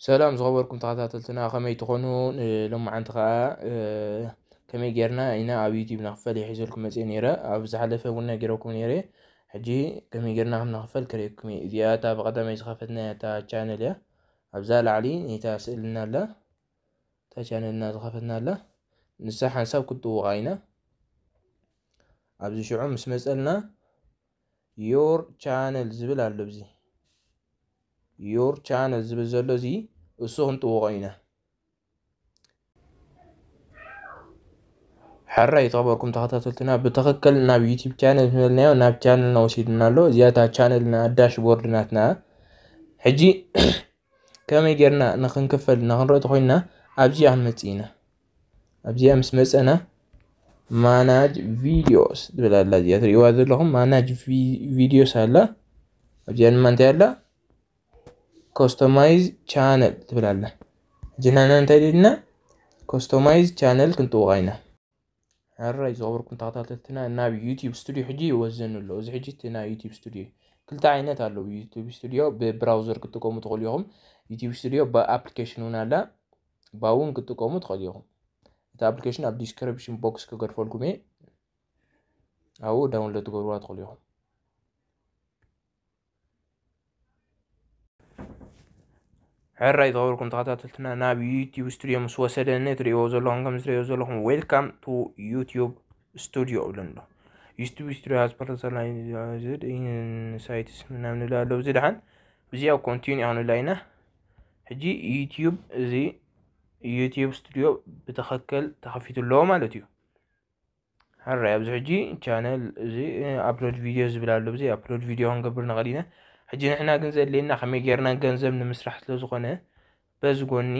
ሰላም ዝኸበርኩም ተኸታተልትና ከመይ ትኾኑ ሎማዓንቲ ከዓ ከመይ ጌርና ኢና ኣብ ዩቲብ ንክፈል ይሒዘልኩም መፅ ነረ ኣብ ዝሓለፈ እውን ነጊረኩም ነረ ሕጂ ከመይ ጌርና ከም ንክፈል ክርእየኩም እየ እዚኣ እታ ብቀዳማይ ዝኸፈትና እታ ቻነል እያ ኣብዛ ላዕሊ ነታ ስእልና ኣላ እታ ቻነልና ዝኸፈትናላ ንሳ ሓንሳብ ክትጥውቓ ኢና ኣብዚ ሽዑ ምስ መፀልና ዮር ቻነል ዝብል ኣሎ ብዚ ዮር ቻነል ዝብል ዘሎ እዚ እሱ ክንጥውቆ ኢና ሕራ ይተኸበርኩም ተኸታተልትና ብትኽክል ናብ ዩቲብ ቻነል ዝበልናዮ ናብ ቻነልና ወሲድና ኣሎ እዚኣታ ቻነልና ዳሽ ቦርድ ናትና ሕጂ ከመይ ጌርና ንክንክፈል እና ክንርኢ ተኮይንና ኣብዚኣ ክንመፅእ ኢና ኣብዚኣ ምስ መፀና ማናጅ ቪዲዮስ ትብል ኣላ እዚኣ ትሪእዋ ዘለኹም ማናጅ ቪዲዮስ ኣላ ኣብዚኣ ድማ እንታይ ኣላ ኮስተማይዝ ቻነል ትብል ኣላ እጅናና እንታይ ደልና ኮስተማይዝ ቻነል ክንጥውቓ ኢና ሕራይ ዝኸበርኩም ተኸታተልትና ናብ ዩቲዩብ ስቱድዮ ሕጂ ይወዘን ኣሎ እዚ ሕጂ እቲ ናይ ዩቲዩብ ስቱድዮ ክልተ ዓይነት ኣለዉ ዩቲዩብ ስቱድዮ ብብራውዘር ክትጥቀሙ ትኽእሉ ኢኹም ዩቲዩብ ስቱድዮ ብኣፕሊኬሽን እውን ኣላ ባውን ክትጥቀሙ ትኽእሉ ኢኹም እቲ ኣፕሊኬሽን ኣብ ዲስክሪፕሽን ቦክስ ክገድፈልኩም እየ ኣብኡ ዳውንሎድ ትገብርዋ ትኽእሉ ኢኹም ሕራይ ዝኸበርኩም ተኸታተልትና ናብ ዩቲዩብ ስቱድዮ ምስ ወሰደኒ ትሪእዎ ዘለኹም ከም ዝትሪእዎ ዘለኹም ዌልካም ቱ ዩቲዩብ ስቱድዮ እብለኒ ኣሎ ዩቲዩብ ስቱድዮ ሃዝ ፐርሰናላይዝድ ኢንሳይትስ ምናምን ንብል ኣሎ እዚ ድሓን ብዚኣ ኮንቲኒ ክንብላ ኢና ሕጂ ዩቲዩብ እዚ ዩቲዩብ ስቱድዮ ብትኽክል ተኸፊቱ ኣለዎ ማለት እዩ ሕራይ ኣብዚ ሕጂ ቻነል እዚ ኣፕሎድ ቪድዮ ዝብል ኣሎ ብዘይ ኣፕሎድ ቪድዮ ክንገብር ንኽእል ኢና ሕጂ ንሕና ግን ዘድልየና ከመይ ጌርና ገንዘብ ንምስራሕ ስለ ዝኾነ በዚ ጎኒ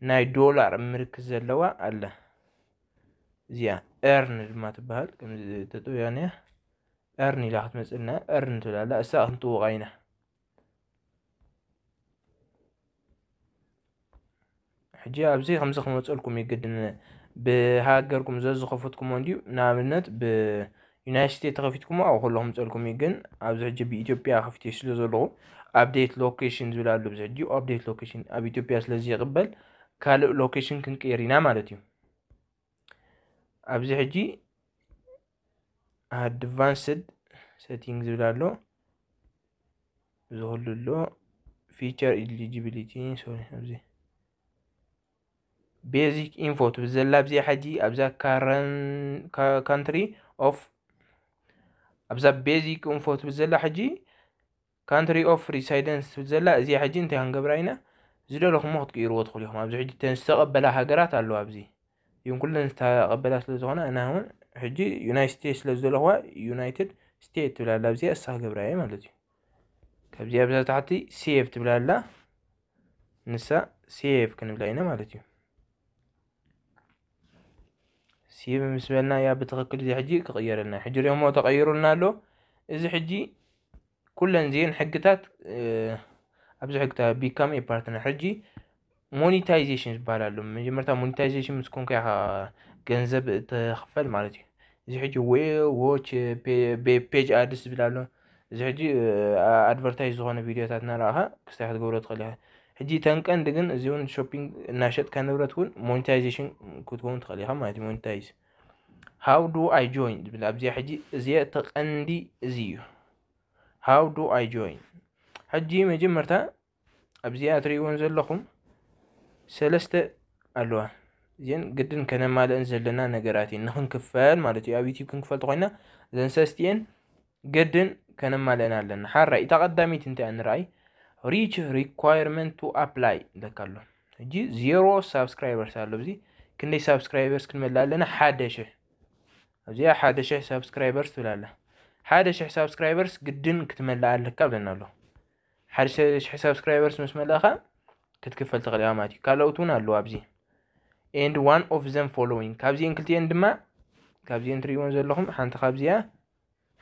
ናይ ዶላር ምልክት ዘለዋ ኣላ እዚኣ ኤርን ድማ ትበሃል ከምዚ ተጠውያንያ ኤርን ኢላ ክትመፅልና ኤርን ትብላላ እሳ ክንጥውቓ ኢና ሕጂ ኣብዚ ከምዚ ክመፀልኩም እዩ ግድን ብሃገርኩም ዘዝኸፈትኩሞ እንዲዩ ንኣብነት ብዩናይት ስቴት ተኸፊትኩሞ ኣብ ከሎ ክምፀልኩም እዩ ግን ኣብዚ ሕጂ ብኢትዮጵያ ከፊት ስለ ዘለኹ ኣብዴት ሎኬሽን ዝብል ኣሎ ብዚ ሕጂ ኣብዴት ሎኬሽን ኣብ ኢትዮጵያ ስለዘይቕበል ካልእ ሎኬሽን ክንቅይር ኢና ማለት እዩ ኣብዚ ሕጂ ኣድቫንስድ ሴቲንግ ዝብል ኣሎ ዝህሉ ኣሎ ፊቸር ኢሊጂቢሊቲ ሶሪ ኣብዚ ቤዚክ ኢንፎ ትብል ዘላ ኣብዚኣ ሕጂ ኣብዛ ካንትሪ ኦፍ ኣብዛ ቤዚክ ኢንፎ ትብል ዘላ ሕጂ ካንትሪ ኦፍ ሪሳይደንስ ትብል ዘላ እዚኣ ሕጂ እንታይ ክንገብራ ኢና ዝደለኹሞ ክትቅይርዎ ትኽእሉ ኢኹም ኣብዚ ሕጂ እተን ዝተቐበላ ሃገራት ኣለዋ ኣብዚ ግን ኩለን ዝተቐበላ ስለ ዝኾና ኣና እውን ሕጂ ዩናይት ስቴትስ ስለ ዝደለኹዋ ዩናይትድ ስቴት ትብል ኣላ ኣብዚኣ እሳ ክገብራ እየ ማለት እዩ ካብዚኣ ብዛ ታሕቲ ሴቭ ትብል ኣላ ንሳ ሴቭ ክንብላ ኢና ማለት እዩ ሲብ ምስ በልና እያ ብትኽክል እዚ ሕጂ ክቕየረልና ሕጂ ሪኦሞ ተቐይሩልና ኣሎ እዚ ሕጂ ኩለን ዚን ሕግታት ኣብዚ ሕግታ ቢካም ፓርትነር ሕጂ ሞኒታይዜሽን ዝበሃል ኣሎ መጀመርታ ሞኒታይዜሽን ምስ ኮንካ ኢኻ ገንዘብ እትኽፈል ማለት እዩ እዚ ሕጂ ዌ ዎች ፔጅ ኣድስ ዝብል ኣሎ እዚ ሕጂ ኣድቨርታይዝ ዝኾነ ቪድዮታት እናረኣኻ ክስታይ ክትገብሮ ትኽእል ኢኻ ሕጂ ተን ቀንዲ ግን እዚ እውን ሾፒንግ እናሸጥካ ንብረት እውን ሞኒታይዜሽን ክትከውን ትኽእል ኢኻ ማለት እዩ ሞኒታይዝ ሃው ዱ ኣይ ጆይን ዝብል ኣብዚኣ ሕጂ እዚኣ እቲ ቀንዲ እዚ እዩ ሃው ዱ ኣይ ጆይን ሕጂ መጀመርታ ኣብዚኣ ትርእይዎን ዘለኹም ሰለስተ ኣለዋ እዚን ግድን ከነማልእን ዘለና ነገራት እየን ንክንክፈል ማለት እዩ ኣብ ዩቲብ ክንክፈል ተኮይና እዘን ሰስቲኤን ግድን ከነማልእን ኣለና ሓራይ እታ ቀዳሚት እንታይ እያ ንርኣይ ሪች ሪኳየርመንት ቱ ኣፕላይ ለካ ኣሎ ሕጂ ዜሮ ሳብስክራይበርስ ኣሎ እዚ ክንደይ ሳብስክራይበርስ ክንመልእ ኣለና ሓደ ሽሕ ኣብዚኣ ሓደ ሽሕ ሳብስክራይበርስ ትብላ ኣላ ሓደ ሽሕ ሳብስክራይበርስ ግድን ክትመልእ ኣለካ ብለና ኣሎ ሓደ ሽሕ ሳብስክራይበርስ ምስ መለእኻ ክትክፈል ትኽእል ኢኻ ማለት እዩ ካልኦት እውን ኣለዉ ኣብዚ ኤንድ ዋን ኦፍ ዘም ፎሎዊንግ ካብዚኤን ክልቲኤን ድማ ካብዚኤን ትሪእዎን ዘለኹም ሓንቲ ካብዚኣ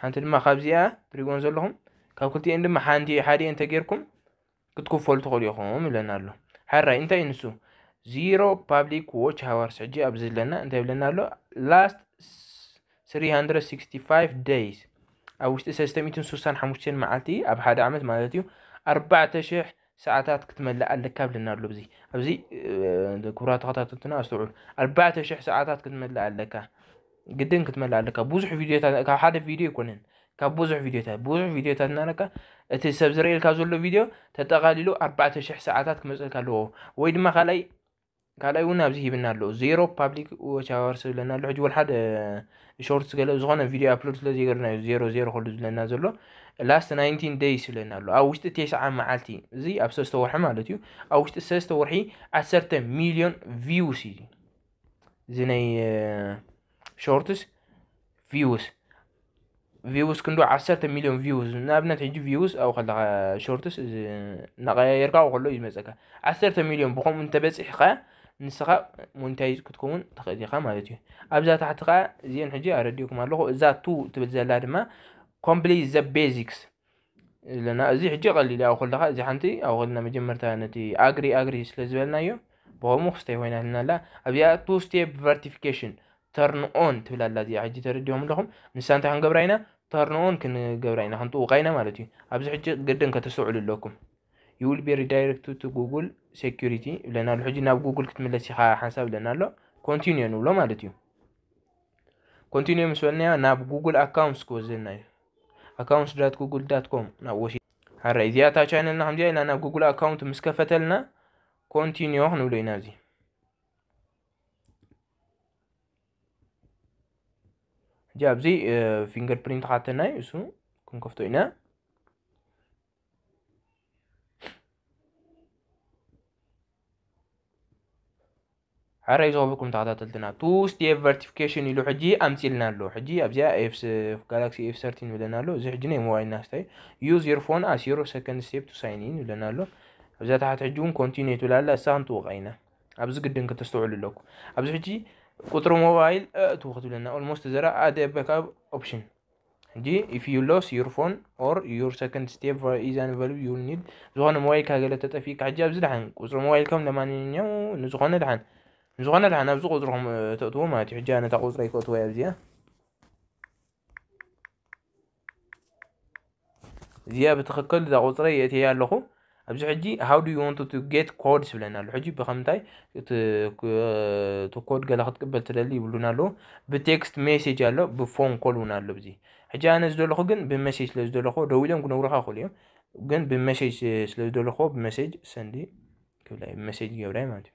ሓንቲ ድማ ካብዚኣ ትሪእዎን ዘለኹም ካብ ክልቲኤን ድማ ሓንቲ ሓዲኤን ተጌርኩም ክትክፈሉ ትኽእሉ ኢኹም ይብለና ኣሎ ሓራይ እንታይ እዩ ንሱ ዚሮ ፓብሊክ ዎች ሃዋርስ ሕጂ ኣብዚ ዘለና እንታይ ይብለና ኣሎ ላስት 365 days ኣብ ውሽጢ ሰለስተ ሚእትን ስሳን ሓሙሽተን መዓልቲ ኣብ ሓደ ዓመት ማለት እዩ ኣርባዕተ ሽሕ ሰዓታት ክትመልእ ኣለካ ብለና ኣሎ ብዚ ኣብዚ ክብራ ተኸታተልትና ኣስተውዕሉ ኣርባዕተ ሽሕ ሰዓታት ክትመልእ ኣለካ ግድን ክትመልእ ኣለካ ብዙሕ ቪድዮታት ካብ ሓደ ቪድዮ ኣይኮነን ካብ ብዙሕ ቪድዮታት ብዙሕ ቪድዮታት እናረካ እቲ ሰብ ዝርእየልካ ዘሎ ቪድዮ ተጠቓሊሉ ኣርባዕተ ሽሕ ሰዓታት ክመፅልካ ኣለዎ ወይ ድማ ካልኣይ ካልኣይ እውን ኣብዚ ሂብና ኣሎ ዜሮ ፓብሊክ ዎች ኣዋርስ ዝብለና ኣሎ ሕጂ ወልሓደ ሾርትስ ገለ ዝኾነ ቪድዮ ኣፕሎድ ስለ ዘይገርና እዩ ዜሮ ዜሮ ክሉ ዝብለና ዘሎ ላስት ናይንቲን ደይስ ይብለና ኣሎ ኣብ ውሽጢ ቴስዓ መዓልቲ እዚ ኣብ ሰለስተ ወርሒ ማለት እዩ ኣብ ውሽጢ ሰለስተ ወርሒ ዓሰርተ ሚልዮን ቪውስ እዩ እዚ ናይ ሾርትስ ቪውስ ቪውስ ክንዱ ዓሰርተ ሚሊዮን ቪውስ ንኣብነት ሕጂ ቪውስ ኣብኡ ከለካ ሾርትስ እናቀያየርካ ኣብኡ ከሎ እዩ ዝመፀካ ዓሰርተ ሚሊዮን ብከምኡ እንተበፂሕካ ንስኻ ሞኒታይዝ ክትከውን ትኽእል ኢኻ ማለት እዩ ኣብዛ ታሕቲ ከዓ እዚአን ሕጂ ኣረዲኡኩም ኣለኹ እዛ ቱ ትብል ዘላ ድማ ኮምፕሊት ዘ ቤዚክስ ለና እዚ ሕጂ ቀሊል እዩ ኣብ ከለካ እዚ ሓንቲ ኣብ ከለና መጀመርታ ነቲ ኣግሪ ኣግሪ ስለ ዝበልናዮ ብከምኡ ክስታይ ኮይናትና ኣላ ኣብዚኣ ቱ ስቴፕ ቨርቲፊኬሽን ተርን ኦን ትብል ኣላ እዚኣ ሕጂ ተረዲኹም ኣለኹም ንሳ እንታይ ክንገብራ ኢና ተርን ኦን ክንገብራ ኢና ክንጥውቃ ኢና ማለት እዩ ኣብዚ ሕጂ ግድን ከተስተውዕሉ ኣለኩም you will be redirected to google security ብለና ኣሎ ሕጂ ናብ ጉግል ክትምለስ ኢኻ ሓንሳብ ብለና ኣሎ ኮንቲኒዮ ንብሎ ማለት እዩ ኮንቲኒዮ ምስ በልናዮ ናብ ጉግል ኣካውንትስ ክወስደና እዩ ኣካውንት ዳት ጉግል ዳት ኮም ናብ ወሲድ ሃራይ እዚኣ እታ ቻይነልና ከምዚኣ ኢላ ናብ ጉግል ኣካውንት ምስ ከፈተልና ኮንቲኒዮ ክንብሎ ኢና እዚ ሕጂ ኣብዚ ፊንገር ፕሪንት ካተናዩ እሱ ክንከፍቶ ኢና ሓረ ይዞብኩም ተኸታተልትና ቱ ስቴፕ ቨርቲፊኬሽን ኢሉ ሕጂ ኣምፂልና ኣሎ ሕጂ ኣብዚኣ ኤፍ ጋላክሲ ኤፍ ሰርቲን ይብለና ኣሎ እዚ ሕጂ ናይ ሞባይልና ስታይ ዩዝ ዮር ፎን ኣስ ዮር ሰከንድ ስቴፕ ቱ ሳይን ኢን ይብለና ኣሎ ኣብዚኣ ታሕቲ ሕጂ እውን ኮንቲኒዩ ትብል ኣላ እሳ ክንጥውቃ ኢና ኣብዚ ግድን ክተስተውዕሉ ኣለኩ ኣብዚ ሕጂ ቁፅሪ ሞባይል ኣእትው ክትብለና ኦልሞስት ዘራ ኣደ በካብ ኦፕሽን ሕጂ ኢፍ ዩ ሎስ ዩር ፎን ኦር ዩር ሰከንድ ስቴፕ ኢዝ ኣንቨልብ ዩ ኒድ ዝኾነ ሞባይልካ ገለ ተጠፊእካ ሕጂ ኣብዚ ድሓን ቁፅሪ ሞባይልከም ለማንኛው ንዝኾነ ድሓን ንዝኾነ ድሓን ኣብዚ ቁፅርኹም ተእትዎ ማለት እዩ ሕጂ ኣነታ ቁፅረይ ክእትወያ ኣብዚኣ እዚኣ ብትኽክል እዛ ቁፅረይ የእትየያ ኣለኹ ኣብዚ ሕጂ ሃው ዱ ወንቱ ቱ ጌት ኮድስ ይብለና ኣሎ ሕጂ ብከምንታይ እቲ ኮድ ገለ ክትቅበል ትደሊ ይብሉና ኣለዉ ብቴክስት ሜሴጅ ኣሎ ብፎን ኮል እውን ኣሎ ብዚ ሕጂ ኣነ ዝደለኹ ግን ብመሴጅ ስለ ዝደለኹዎ ደው ኢሎም ክነግሩካ ይኽእሉ እዮም ግን ብመሴጅ ስለ ዝደለኹዎ ብመሴጅ ሰንዲ ክብላ እዩ ብመሴጅ ገብራይ ማለት እዩ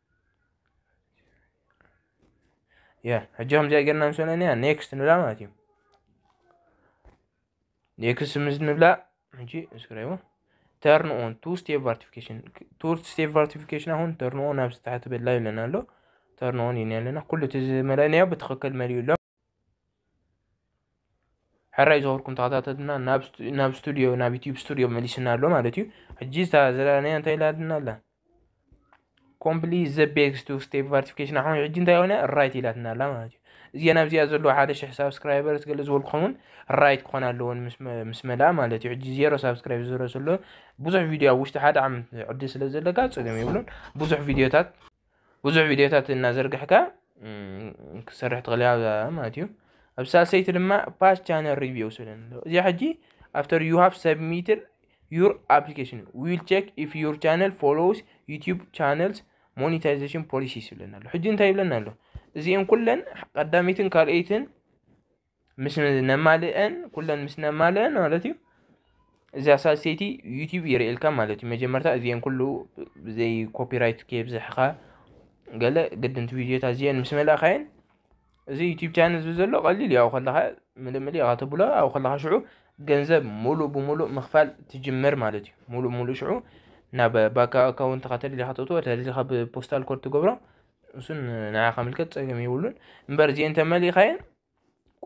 ያ ሕጂ ከምዚኣ ጌርና ምስ በለና ኔክስት ንብላ ማለት እዩ ኔክስት ምስ ንብላ ሕጂ እስክራይቦ ተርን ኦን ቱ ስቴፕ ቫርቲፊኬሽን ቱ ስቴፕ ቫርቲፊኬሽን አሁን ተርን ኦን ኣብ ታሕቲ በላ ይብለና ኣሎ ተርን ኦን ይኒ ኣለና ኩሉ እቲ ዝመለናዮ ብትክክል መሊኡ ኣሎ ሕራይ ዝኸብርኩም ተኸታተልና ናብ ስቱድዮ ናብ ዩትዩብ ስቱድዮ መሊስና ኣሎ ማለት እዩ ሕጂ ዝተዘለናያ እንታይ ኢላትና ኣላ ኮምፕሊት ዘ ቤክስ ቱ ስቴፕ ቫርቲፊኬሽን ኣኹም ሕጂ እንታይ ኮነ ራይት ኢላትና ኣላ ማለት እዩ እዚኣ ናብዚኣ ዘለዎ ሓደ ሽሕ ሳብስክራይበር ገለ ዝበልኩም እውን ራይት ክኾን ኣለዎን ምስ መላ ማለት እዩ ሕጂ ዜሮ ሳብስክራይብ ዝረ ዘሎ ብዙሕ ቪድዮ ኣብ ውሽጢ ሓደ ዓመት ዕድል ስለ ዘለካ ፀገም የብሉን ብዙሕ ቪድዮታት ብዙሕ ቪድዮታት እናዘርግሕካ ክትሰርሕ ትኽእል እያ ኣብዛ ማለት እዩ ኣብ ሳልሰይቲ ድማ ፓስ ቻነል ሪቪው ስለን ኣሎ እዚኣ ሕጂ ኣፍተር ዩ ሃቭ ሰብሚትድ ዩር ኣፕሊኬሽን ዊል ቼክ ኢፍ ዩር ቻነል ፎሎውስ ዩቲዩብ ቻነልስ ሞኒታይዜሽን ፖሊሲስ ይብለና ኣሎ ሕጂ እንታይ ይብለና ኣሎ እዚአን ኩለን ቀዳሚትን ካልኣይትን ምስ ነማልእን ኩለን ምስ ነማልእን ማለት እዩ እዚኣ ሳልሰይቲ ዩቲዩብ ይርእየልካ ማለት እዩ መጀመርታ እዚአን ኩሉ ብዘይ ኮፒራይት ከየብዝሕኻ ገለ ግድንቲ ቪድዮታት እዚአን ምስ መላእኻየን እዚ ዩቲዩብ ቻነል እዚ ዘሎ ቀሊል እዩ ኣብኡ ከለኻ ምልምል ኢኻ ተብሎ ኣብኡ ከለኻ ሽዑ ገንዘብ ሙሉእ ብሙሉእ ምኽፋል ትጅምር ማለት እዩ ሙሉእ ሙሉእ ሽዑ ናብ ባንክ ኣካውንትኻ ተደሊኻ ተእትዎ ተደሊኻ ብፖስታል ኮድ ትገብሮ እሱን ንዓኻ ምልከት ጸገም የብሉን እምበር እዚኤን ተመሊኻየን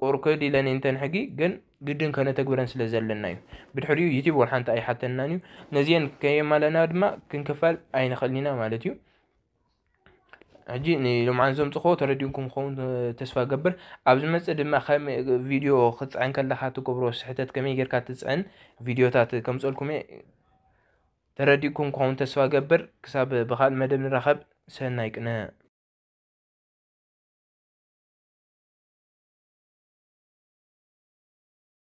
ቁርክድ ኢለን እንተን ሕጊ ግን ግድን ከነተግብረን ስለ ዘለና እዩ ብድሕሪኡ ዩቲብ ወር ሓንቲ ኣይሓተናን እዩ ነዚኤን ከየማለና ድማ ክንክፋል ኣይንኽእል ኢና ማለት እዩ ሕጂ ንሎምዓን ዘምፅኸዎ ተረዲንኩም ክኸውን ተስፋ ገብር ኣብ ዝመፅእ ድማ ከም ቪድዮ ክትፅዕን ከለካ ትገብሮ ስሕተት ከመይ ጌርካ ትፅዕን ቪድዮታት ከምፀልኩም እየ ተረዲእኩም ክኸውን ተስፋ እገብር ክሳብ ብኻልእ መደብ ንራኸብ ሰናይ ቅነ።